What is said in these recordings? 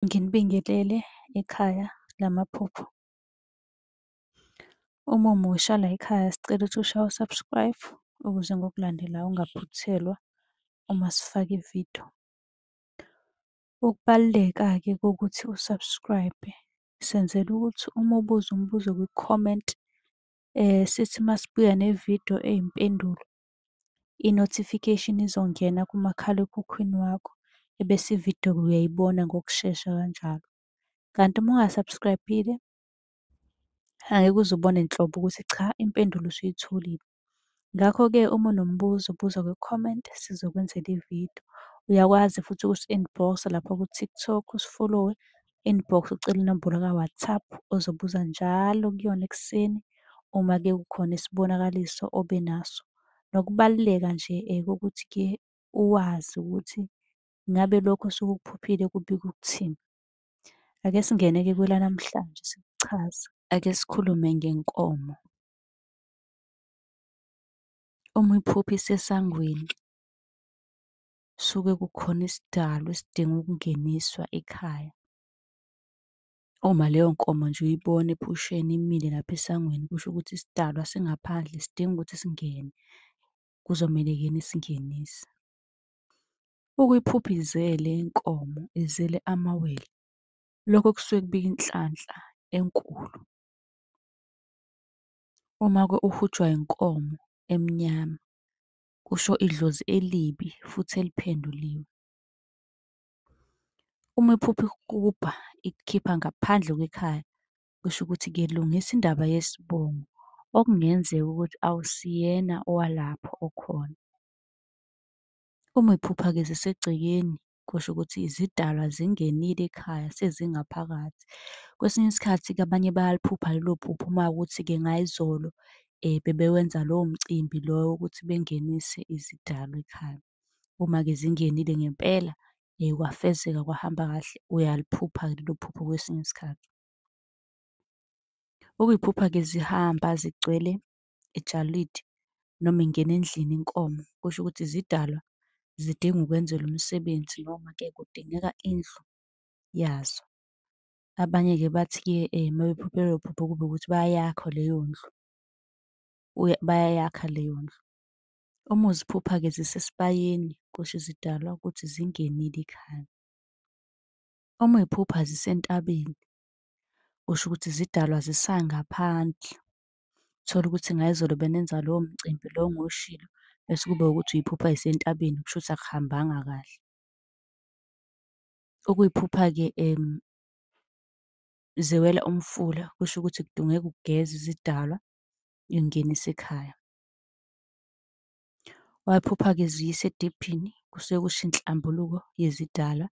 Nginibingelele ekhaya lamaphupho. Uma umusha layikhaya sicela ukuthi ushaye u-subscribe ukuze ngokulandelayo ungaphuthelwa uma sifaka ividiyo. Ukubaluleka-ke kokuthi u-subscribe senzela ukuthi uma ubuza umbuzo kwi-comment sithi masibuya nevidiyo eyimpendulo i-notification izongena kumakhalekhukhwini wakho ebese ividiyo-ke uyayibona ngokushesha kanjalo. Kanti uma unga-subscribe-ile angeke uze ubone nhlobo ukuthi cha impendulo usuyitholile. Ngakho-ke uma unombuzo buza kwi-comment sizokwenzela ividiyo. Uyakwazi futhi ukusi-inbox-a lapha ku-TikTok usifolowe inbox ucele inombolo ka-WhatsApp ozobuza njalo kuyona ekuseni uma ke kukhona isibonakaliso obe naso. Nokubaluleka nje kokuthi ke uwazi ukuthi ngabe lokho osuke ukuphuphile kubika ukuthini. Ake singene-ke kwelanamhlanje sikuchaze. Ake sikhulume ngenkomo. Uma uyiphupha isesangweni, suke kukhona isidalwa esidinga ukungeniswa ekhaya. Uma leyo nkomo nje uyibona ephusheni imile lapha esangweni kusho ukuthi isidalwa singaphandle sidinga ukuthi singene, kuzomele yena isingenise. Ukuyiphupha izele inkomo, izele amawele, lokho kusuke kubika inhlanhla enkulu. Uma-ke uhujwa inkomo emnyama, kusho idlozi elibi futhi eliphenduliwe. Uma iphupha ikukubha ikukhipha ngaphandle kwekhaya, kusho ukuthi kelungisa indaba yesibongo okungenzeka ukuthi awusiyena owalapho okhona. Uma iphupha-ke zisegcekeni kusho ukuthi izidalwa zingenile ekhaya sezingaphakathi. Kwesinye isikhathi-ke abanye bayaliphupha lelo phupho uma kuwukuthi-ke ngayizolo bebewenza lowo mcimbi lowo wokuthi bengenise izidalwa ekhaya. Uma-ke zingenile ngempela kwafezeka kwahamba kahle, uyaliphupha-ke lelo phupho kwesinye isikhathi. Ukuyiphupha-ke zihamba zigcwele ejalidi noma ingena endlini inkomo, kusho ukuthi zidalwa zidinga ukwenzelwa umsebenzi noma-ke kudingeka indlu yazo. Abanye-ke bathi-ke uma bephuphe lolo phupho kube ukuthi bayayakha leyo ndlu, bayayakha leyo ndlu. Uma uziphupha-ke zisesibayeni, kusho izidalwa ukuthi zingenile ikhaya. Uma uy'phupha zisentabeni, kusho ukuthi zidalwa zisangaphandle. Uthole ukuthi ngayizolo benenza lowo mcimbi lo engiwushilo, bese kube ukuthi uyiphupha isentabeni, kusho ukuthi akuhambanga kahle. Ukuyiphupha-ke ziwela umfula, kusho ukuthi kudingeka ugeze izidalwa, uyingenise ekhaya. Wayiphupha-ke ziyisa ediphini, kusuke kusho inhlambuluko yezidalwa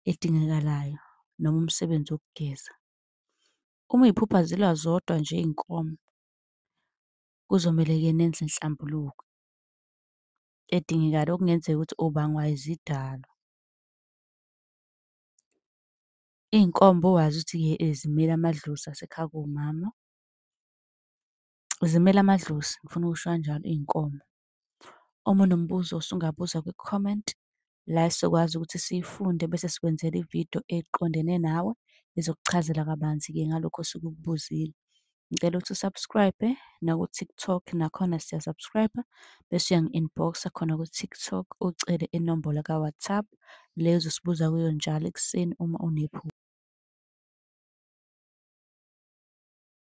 edingekalayo, noma umsebenzi wokugeza. Uma iy'phupha zilwa zodwa nje iy'nkomo, kuzomele-ke nenze inhlambuluko edingekayo okungenzeka ukuthi ubangwa izidalwa. Iy'nkomo bowazi ukuthi-ke zimela amadlozi asekhaya komama. Zimela amadlozi, ngifuna ukusho kanjalo iy'nkomo. Uma unombuzo usungabuza kwi-comment la esizokwazi ukuthi siyifunde bese sikwenzela ividiyo eqondene nawe ezokuchazela kabanzi-ke ngalokho osuke ukubuzile. Ngicela ukuthi usubscribe naku-TikTok nakhona siya-subscribe bese uyangi-inbox-a khona ku-TikTok ucele inombolo ka-WhatsApp le ozosibuza kuyo njalo ekuseni uma unephutha.